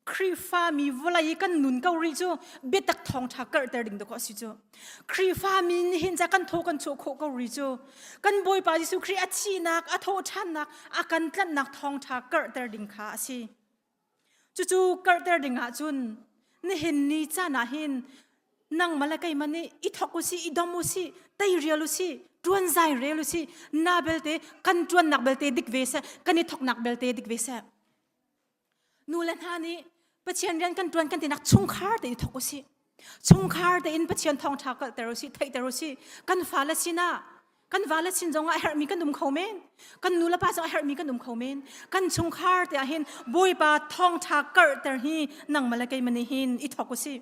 Khrihfami vawlei kan nun ko rih cu biatak thawngṭha karhter ding dawk a si cu. Khrihfami nih hin ca kan thaw kan chuah khawh ko rih cu. Kan Bawipa Jesuh Khrih a thihnak, a thawhṭhannak, a kan tlanhnak thawngṭha karhter ding kha a si. Cucu karhter ding ah cun nihin ni caan ah hin nangmah le keimah nih i thawk u sih, i dom u sih, teirial u sih, ṭuan zai rel u sih. Na belte, kan ṭuannak belte dik ve seh, kan i thawknak belte dik ve seh. Nu le hna nih Pathian rian kan ṭuan kan tinak chungkhar te i thawk u si. Chungkhar tein Pathian thawngṭha kalhter u si, theihter u si. Kan fale sinah kan vale sin zongah a herhmi kan um kho men. Kan nu le pa zong a herhmi kan um kho men. Kan chungkhar te ahhin Bawipa thawngṭha karhter hi nangmah le keimah nih hin i thawk u si.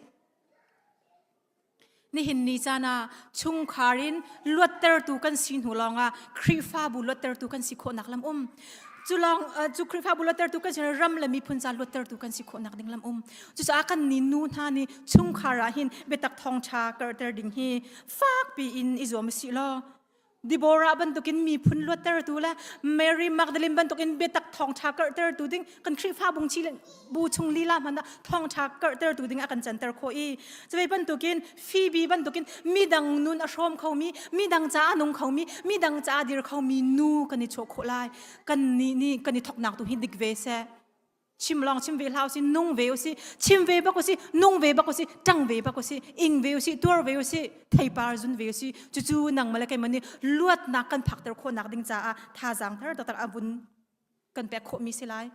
Nihin ni caan ah chungkhar in luattertu kan si hnu lawngah Khrihfabu luattertu kan si khawhnak lam um. Cu lawng cu Khrihfabu luattertu kan si ram le miphun ca luattertu kan si khawhnak ding lam um. Cucaah kan ni nu hna nih chungkhar ah hin biatak thawngṭha karhter ding hi fakpi in i zuam u sih law Deborah bantukin miphun luattertu le Mary Magdalene bantukin biatak thawngṭha karhtertu ding kan Khrihfa bung chi le bu chung lila hmanh ah thawngṭha karhtertu ding a kan canter khawh i cuai bantukin Phoebe bantukin midang nun a hrawm khomi midang ca a nung khomi midang ca a dir khomi nu kan i chuah khawh lai kannih nih kan i thoknak tu hi dik ve seh chim long chim ve hlau si nung ve usi chim ve bak usi nung ve bak usi tang ve bak usi ing ve usi tuar ve usi theipar zun ve usi cucu nang male kai mani luat nak kan phak ter kho nak ding cha a tha jang thar to tar abun kan pe kho mi silai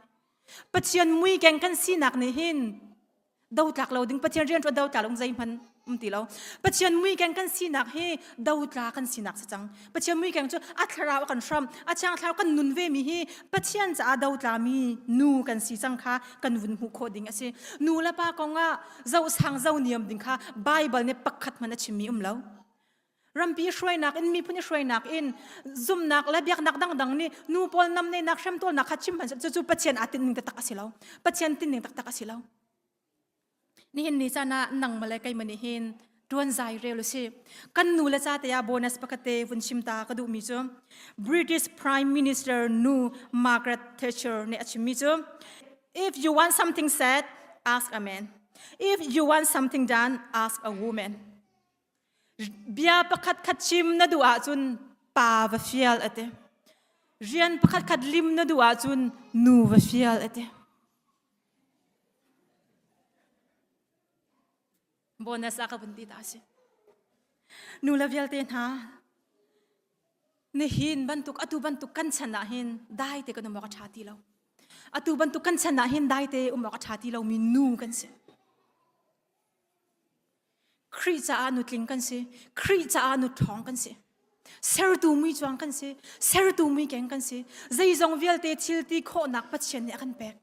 pathian mui keng kan sinak ni hin do tlak lo ding pathian rian ṭuan do tlak lo zei hman um ti lo pathian mui keng kan sinak hi do tla kan sinak si cang pathian mui keng cu a thlarau kan hram a chang thlarau kan nun ve mi hi pathian caah do tla mi nu kan si cang kha kan vun hmuh khawh ding a si nu le pa kong ah zo sang zo niam ding kha bible ne pakhat man a chim mi um lo rampi hruainak in miphun hruainak in zumnak le biaknak dangdang nih nu pawl nam nenak hremtolnak kha chim hman cu pathian aa tinning taktak a si lo pathian tinning taktak a si lo nihin ni caan ah nang male keimah nih hin tuan zai rel u si kan nu le ca te ah bonus pakate vun chim ta ka duh mi cu british prime minister nu margaret thatcher nih a chim mi cu if you want something said ask a man if you want something done ask a woman Bia pakhatkhat chim na duh ahcun pa va fial a ti. Rian pakhatkhat lim na duh ahcun nu va fial a ti. Bonus a ka vun ti ta si. Nu le vialte hna, nihin bantuk atu bantuk kan chan ah hin dai te kan um awk a ṭha ti lo. Atu bantuk kan chan ah hin dai te um awk a ṭha ti lomi nu kan si. Khrih caah nutling kan si. Khrih caah nuṭhawng kan si. Sertu mi cuang kan si. Sertu mi keng kan si. Zeizong vialte thil ti khawhnak Pathian nih a kan pek.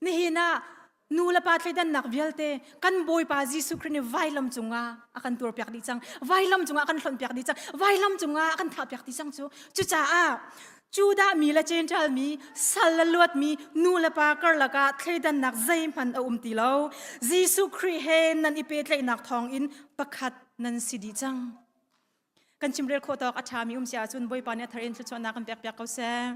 Nihin ah nu le pa thleidannak vialte kan Bawipa Jesuh Khrih nih vailam cungah a kan tuarpiak dih cang. Vailam cungah a kan hlonhpiak dih cang. Vailam cungah a kan thlahpiak dih cang cu. Cucaah Judah mi le Jentail mi sal le luatmi nu le pa karlak ah thleidannak zeihmanh a um ti lo. Jesuh Khrih he nan i pehtlaihnak thawngin pakhat nan si dih cang. Kan chimrel khawh tawk a ṭhami um si ahcun Bawipa nih a thar in thluachuahnak kan pekpiak ko seh.